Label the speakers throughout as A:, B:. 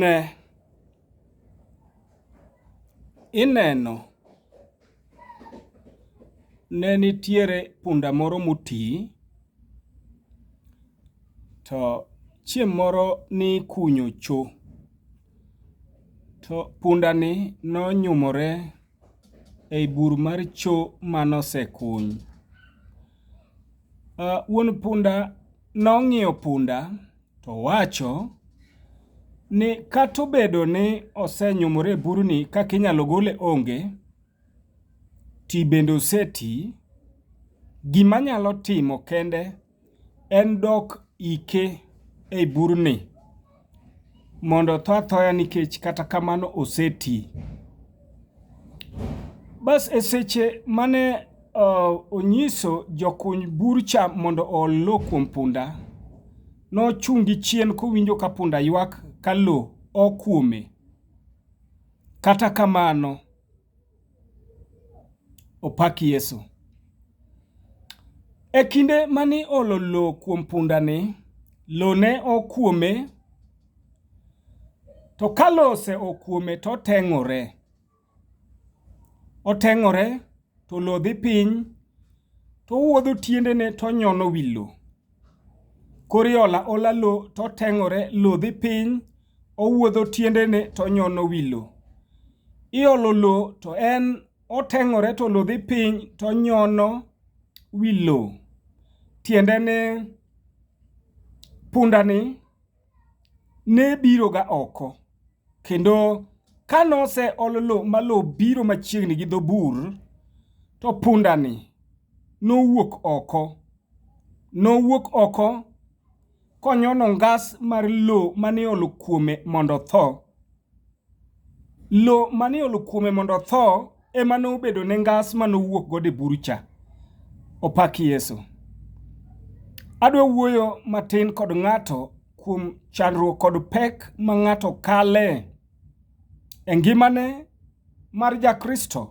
A: Ne! Ineno, ne nitiere punda moro moti, to chieng' moro nikunyo cho. To punda ni nonyumore ei bur mar cho manosekuny. Wuon punda nong'iyo punda To owacho ni kata obedo ni osenyumore e burni kaka inyalo gole onge, ti bende oseti, gima nyalo timo kende en dok ike ei burni mondo otho athoya nikech kata kamano oseti. Bas e seche mane onyiso jokuny burcha mondo ool lo kuom punda, nochung' gi chien kowinjo ka punda ywak ka lo oo kuome. Kata kamano, opak Yesu. E kinde mane iolo lo kuom pundani, lo ne oo kuome To ka lowo ose o kuome to oteng'ore. Oteng'ore to lowo dhi piny to owuodho tiendene to onyono wi lowo. Koro iolo aola lowo to oteng'ore, lowo dhi piny, owuodho tiendene to onyono wi lowo. Iolo lowo to en oteng'ore to lowo dhi piny to onyono wi lowo. Tiende ni punda ni. ne biroga oko, kendo ka nose olo lo ma lo biro machiegni gi dho bur, to pundani nowuok oko. Nowuok oko konyono ngas mar lo mane olo kuome mondo otho. Lo mane olo kuome mondo otho ema nobedo ne ngas ma nowuok godo e buru cha. Opak Yesu. Adwa wuoyo matin kod ng'ato kuom chandruok kod pek ma ng'ato kale e ngimane mar Jakristo.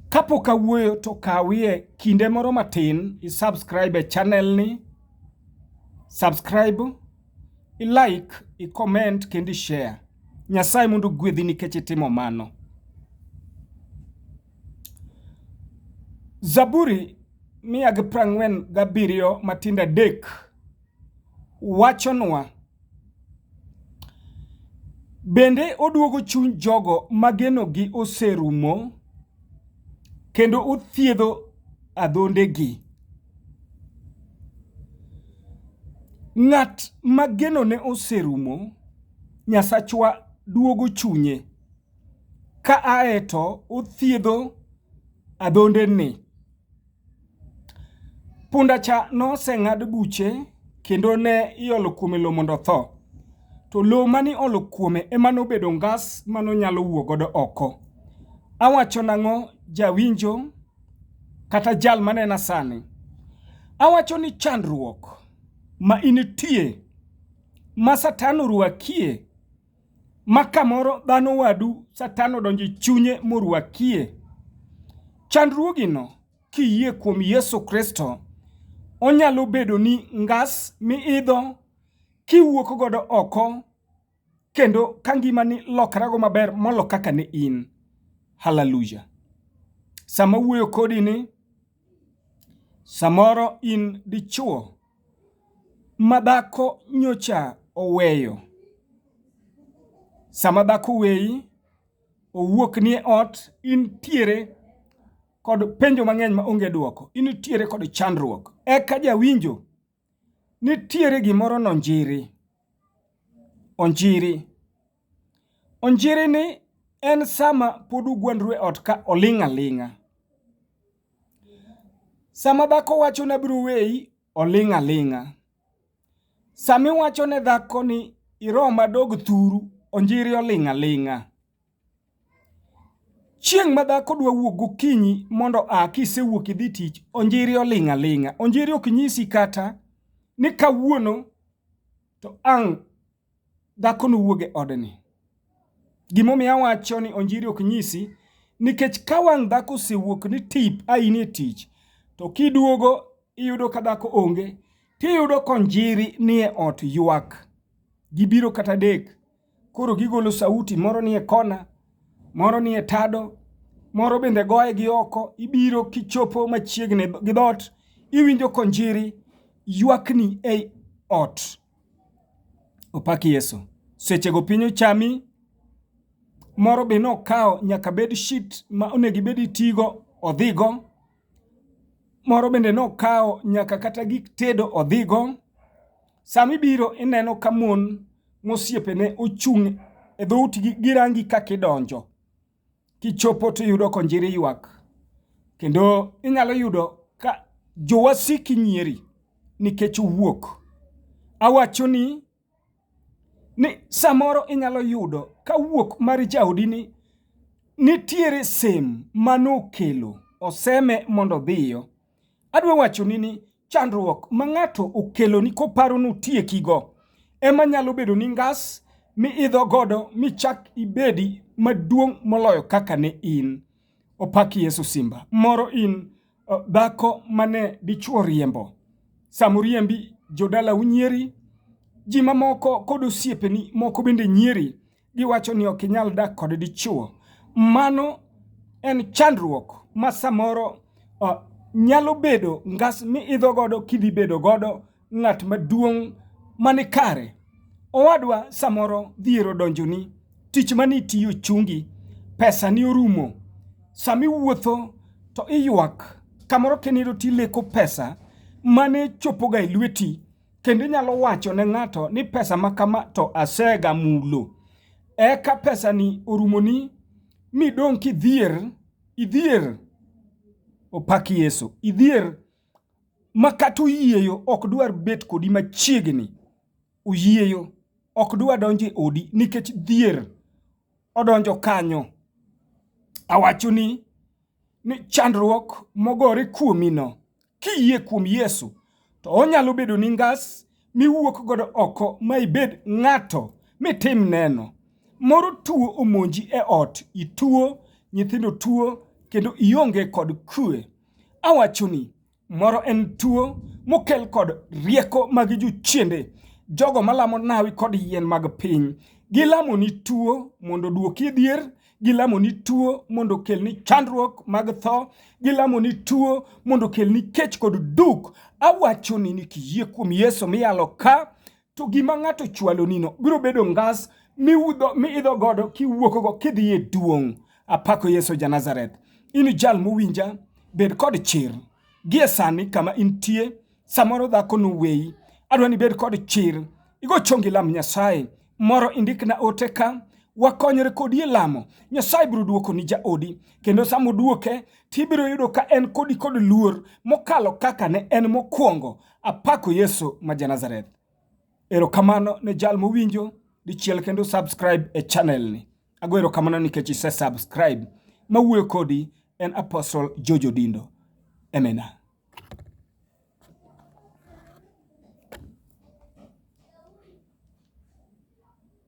A: Kapok awuoyo to kawie kinde moro matin i subscribe e channel ni, subscribe i like, i comment kendo i share. Nyasaye mondo ogwedhi nikech itimo mano. Zaburi mia gi prang'wen gabiriyo matindo adek wachonwa bende oduogo chuny jogo ma genogi oserumo kendo othiedho adhondegi. Ng'at ma genone oserumo, Nyasachwa duogo chunye, ka ae to othiedho adhondene. Pundacha noseng'ad buche kendo ne iolo kuome lowo mondo otho. To lowo mane iolo kuome ema nobedo ngas mane onyalo wuok godo oko. Awacho nang'o jawinjo kata jal manena sani? Awacho ni chandruok ma initie ma satan orwakie ma kamoro dhano wadu Satan odonjo e chunye morwakie. Chandruogino kiyie kuom Yesu Kristo, onyalo bedoni ngas miidho kiwuok godo oko kendo ka ngimani lokarago maber molo kaka ne in. Hallelujah. Sama wuoyo kodi ni Samoro in dichwo ma dhako nyocha oweyo. Sama dhako weyi, owuok ni e ot, intiere kod penjo mang'eny ma onge dwoko. Intiere kod chandruok. Eka jawinjo Nitiere gimoro ni onjiri, onjiri. Onjiri ni en sama pod ugwandu e ot ka oling' aling'a. Sama dhako wacho ni abiro weyi, oling' aling'a. Sama iwacho ne dhako ni iroma dog thuru, onjiri oling' aling'a. Chieng' ma dhako dwa wuok gokinyi mondo a kisewuok idhi tich, onjiri oling' aling'a. Onjiri ok nyisi kata ni kawuono to ang' dhako nowuog e odni. Gimomiyo awacho ni onjiri ok nyisi, nikech ka wang' dhako osewuok ni tip a in e tich, to kiduogo iyudo ka dhako onge, tiyudo ka onjiri nie ot ywak. Gibiro kata adek, Koro gigolo sauti, moro nie kona, moro nie tado, moro bende goye gi oko. Ibiro kichopo machiegni gi dhoot, iwinjo konjiri ywakni ei ot. Opak Yesu. Sechego piny ochami, moro be nokawo nyaka bed shit ma onego ibed itigo odhigo. Moro bende nokawo nyaka kata gik tedo odhigo. Sama ibiro ineno ka mon mosiepene ochung' e dhoutgi girangi kaka idonjo. Kichopo to iyudo konjiri ywak. Kendo inyalo yudo ka jowasiki nyieri nikech owuok. Awacho ni ni samoro inyalo yudo ka wuok mar jaodi ni nitiere sem manokelo oseme mondo odhiyo. Adwa wachoni ni chandruok ma ng'ato okeloni koparo ni otiekigo ema nyalo bedo ni ngas miidho godo michak ibedi maduong' moloyo kaka ne in. Opak Yesu Simba. Moro in uh, dhako mane dichuo riembo. Samo riembi jodala unyieri, ji mamoko kod osiepeni moko bende nyieri giwacho ni ok inyal dak kod dichuo. Mano en chandruok ma samoro uh, nyalo bedo ngas mi idho godo kidhi bedo godo ng'at maduong' mani kare. Owadwa samoro dhiero donjoni, tich mani tiyo chungi, pesa ni orumo. Sami wuotho to iywak, kamoro kinido tileko pesa mane chopoga e lweti kendo inyalo wacho ne ng'ato ni pesa ma kama to asega mulo eka pesani orumoni midong' kidhier idhier opak yesu idhier ma kata oyieyo ok dwar bet kodi machiegni oyieyo ok dwa donjo e odi nikech dhier odonjo kanyo awacho ni ni chandruok mogore kuomino kiyie kuom Yesu to onyalo bedo ni ngas miwuok godo oko ma ibed ng'ato mitim neno. Moro tuo omonji e ot, ituo, nyithindo tuo, kendo ionge kod kue. Awachoni, Moro en tuo mokel kod rieko mag jochiende, jogo malamo nawi kod yien mag piny. Gilamo ni tuo mondo duoki e dhier, gilamo ni tuo mondo kelni chandruok mag tho, gilamo ni tuo mondo kelni kech kod duk. Awachoni ni kiyie kuom Yesu miyalo ka to gima ng'ato chwalonino biro bedo ngas miudho miidho godo kiwuokgo kidhi e duong' apako yesu janazareth in jal mowinja bed kod chir gie sani kama intie samoro dhako noweyi adwa ni bed kod chir igo chongi lam nyasaye moro indikna ote ka wakonyore kodi e lamo nyasaye biro duoko ni jaodi kendo sama oduoke tibiro yudo ka en kodi kod luor mokalo kaka ne en mokwongo Apako Yesu ma Janazareth. Erokamano ne jal mowinjo dichiel kendo subscribe e channel ni. Ago erokamano nikech ise subscribe. Mawuoyo kodi en Apostle Jojo Dindo. Amena.